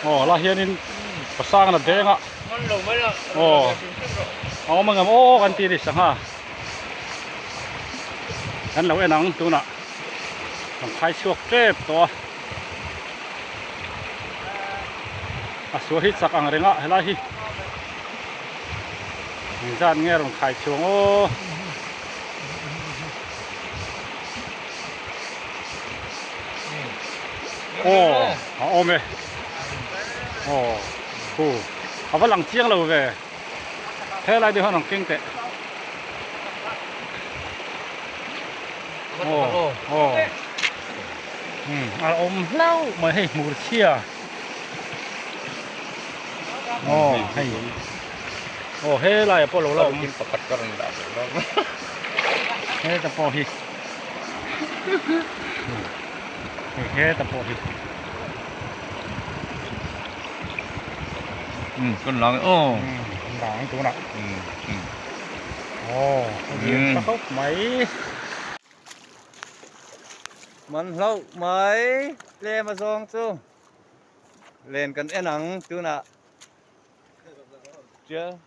Aw lah hian in kawsang la deng a aw awm ang emaw kan ti ni sangha kan lo en ang tunah kan phai chhuak tep tawh a a sual hi chak ang reng a helai hi engzat nge a rawn khai chhuang aw. aw a awm e aw hu a va lang chiang lo ve helai te hian an keng teh aw aw umm a awm hlauh mai hei hmur chhia aw hei aw helai ah pawh lo la awm a he te pawh hi. hei heta pawh hi um kan lak em aw kan lak ang tunah aw lian ta hauh mai man hlauh mai tlem azawng chu len kan en ang tunah tial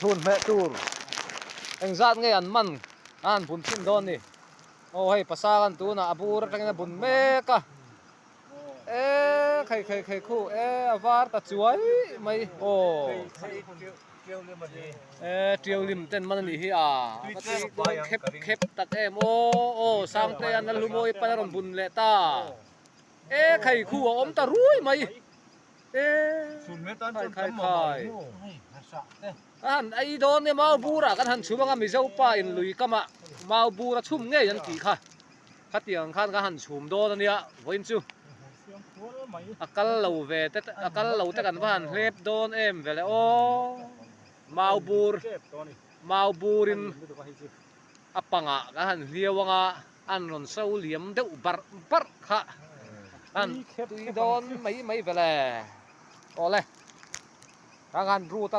Thlun hmeh tur eng zat nge an man a han bun chin dawn ni aw hei pasal an tunah a bur atangin a bun mek a. E khei khei khei khu e a var ta chuai mai aw e tiaulim ten man anih hi a ka ti chuan khep khep tak em aw aw sangte hian nalhu mawi pai a rawn bun leh ta e khei khu a awm ta ruai mai e khai khai khai ka han ei dawn e mau bura kan han chhum anga mizo pa in lui kamah mau bura chhum ngei an tih kha Khatiang khan ka han chhum dawn a nia vawiin chu a kal lo ve te a kal lo te kan va han hlep dawn em vele aw mau bur mau burin a pangah kan han hliau ang a an rawn so liam deuh barh barh kha an tui dawn mai mai vele awle khan an rut a.